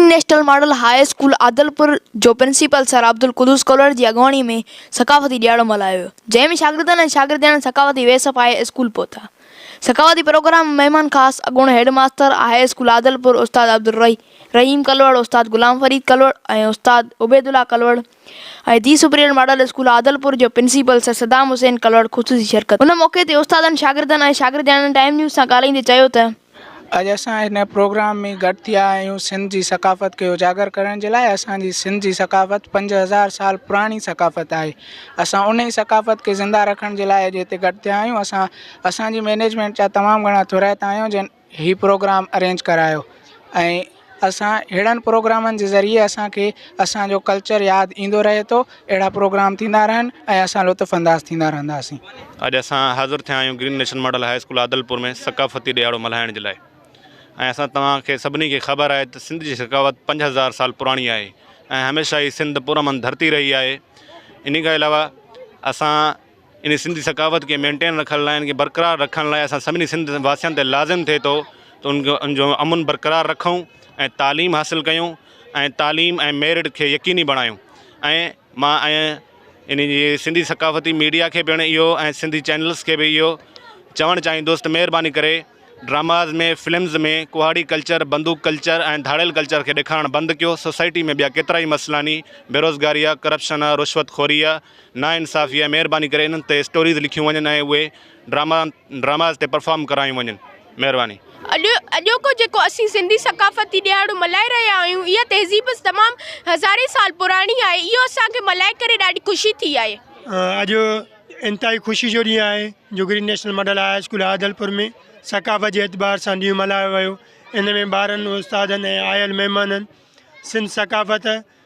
International Model High school Adilpur جو principal sir Abdul Quddus Kolhar جي اڳواڻي ۾ ثقافتي ڏيهاڙو ملهايو ويو جنهن ۾ شاگردن ۽ شاگردياڻين ثقافتي ويس پائي اسڪول پهتا ثقافتي پروگرام ۾ مهمان خاص اڳوڻو headmaster high school Adilpur استاد عبدالرحيم ڪلهوڙ استاد غلام فريد ڪلهوڙ ۽ استاد Obaidullah Kalhoro ۽ the superior model school Adilpur جو پرنسپل سر صدام حسين ڪلهوڙ خصوصي شرڪت ڪئي ان موقعي تي استادن شاگردن ۽ شاگردياڻين ٽائيم نيوز سان ڳالهائيندي چيو ته اڄ اسان هن پروگرام ۾ گڏ ٿيا آهيون سنڌ جي ثقافت کي اجاگر ڪرڻ جي لاء اسان جي سنڌ جي ثقافت پنج هزار سال پراڻي ثقافت آهي اسان ان ئي ثقافت کي زنده رکڻ جي لاء اڄ هتي گڏ ٿيا آهيون اسان اسان جي مينيجمينٽ جا تمام گهڻا ٿورائتا آهيون جن هي پروگرام ارينج ڪرايو ۽ اسان اهڙن پروگرامن جي ذريعي اسانکي اسانجو ڪلچر ياد ايندو رهي ٿو اهڙا پروگرام ٿيندا رهن ۽ اسان لطف انداز ٿيندا رهنداسين. اڄ اسان حاضر ٿيا آهيون Green National Model High school Adilpur ۾ ثقافتي ڏهاڙو ملهائڻ جي لاء ۽ اسان توهان کي سڀني کي خبر آهي ته سنڌ جي ثقافت پنج هزار سال پراڻي آهي ۽ هميشه ئي سنڌ پرامن ڌرتي رهي آهي انهي کان علاوه اسان ان سنڌي ثقافت کي مينٽين رکڻ لاء ان کي برقرار رکڻ لاء اسان سڀني سنڌ واسين تي لازم ٿئي ٿو ته ان کي ان جو امن برقرار رکون ۽ تعليم حاصل ڪيون ۽ تعليم ۽ ميرٽ کي يقيني بڻايون ۽ مان ۽ ان جي سنڌي ثقافتي ميڊيا کي پڻ اهو ۽ سنڌي چينلس کي به اهو چوڻ چاهيندوس ته مهرباني ڪري ڊراماز ۾ فلمز ۾ ڪهاڙي ڪلچر بندوق ڪلچر ۽ ڌاڙيل ڪلچر کي ڏيکارڻ بند ڪيو سوسائٽي ۾ ٻيا ڪيترائي مسئلا ني بيروزگاري آهي ڪرپشن آهي رشوت خوري آهي نا انصافي آهي مهرباني ڪري انهن تي اسٽوريز لکيون وڃن ۽ اهي ڊراما ڊراماز تي پرفارم ڪرايون وڃن مهرباني. اڄ اڄوڪو جيڪو اسين سنڌي ثقافتي ڏيهاڙو ملهائي رهيا آهيون اها تهذيب تمام هزارين سال پراڻي آهي اهو اسان کي ملهائي ڪري ڏاڍي خوشي ٿي آهي. اڄ انتهائي خوشي جو ڏينهن آهي جو Green National Model High school Adilpur ۾ ثقافت جي اعتبار سان ڏينهن ملهايو ويو ان ۾ ٻارن استادن ۽ آيل مهمانن سنڌ ثقافت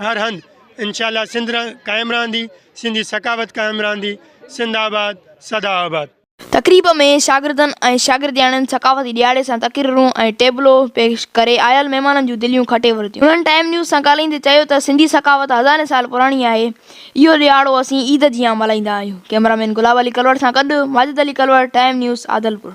هر هنڌ انشاء الله سنڌ قائم رهندي، سنڌي ثقافت قائم رهندي، سنڌ آباد سدا آباد. تقريب ۾ شاگردن ۽ شاگردياڻين ثقافتي ڏيهاڙي سان تقريرون ۽ ٽيبلو پيش ڪري عيال مهمانن جون دليون کٽي ورتيون. هنن ٽائيم نيوز سان ڳالهائيندي چيو ته سنڌي ثقافت هزارين سال پراڻي آهي، اهو ڏيهاڙو اسين عيد جيان ملهائيندا آهيون. ڪئميرا مين گلاب علي ڪلوڙ سان گڏ ماجد علي ڪلوڙ، ٽائيم نيوز، عادلپور.